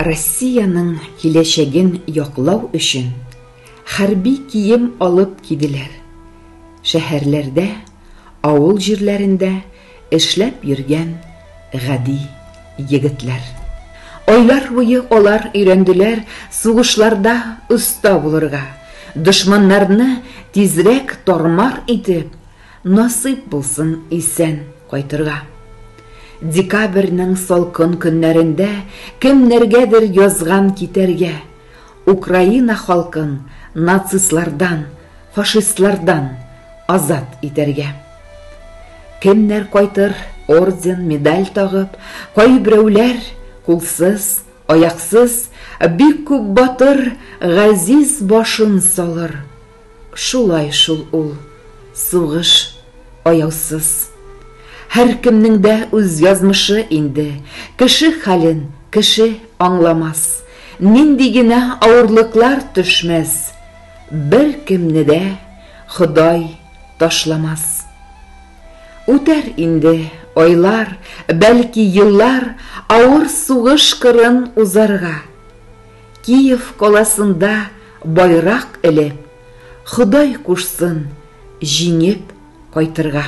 Россиянең киләчәген яклау өчен хәрби кием алып киделәр. Шәһәрләрдә, авыл җирләрендә эшләп йөргән гади егетләр. Айлар буе алар өйрәнделәр сугышларда оста булырга, дошманнарны тизрәк тар-мар итеп, Насыйп булсын исән кайтырга. Декабрьнең салкын көннәрендә кемнәргәдер язган китәргә, Украина халкын нацистлардан, фашистлардан азат итәргә. Кемнәр кайтыр, орден, медаль тагып, кайберәүләр, кулсыз, аяксыз, бик күп батыр, газиз башын салыр. Шулай шул ул, сугыш, аяусыз. Һәркемнең дә үз язмышы инде, Кеше хәлен кеше аңламас. Нинди генә авырлыклар төшмәс, Беркемне дә Ходай ташламас. Үтәр инде айлар, бәлки еллар, Авыр сугыш кырын узарга. Киев каласында байрак элеп, Ходай кушсын, җиңеп кайтырга.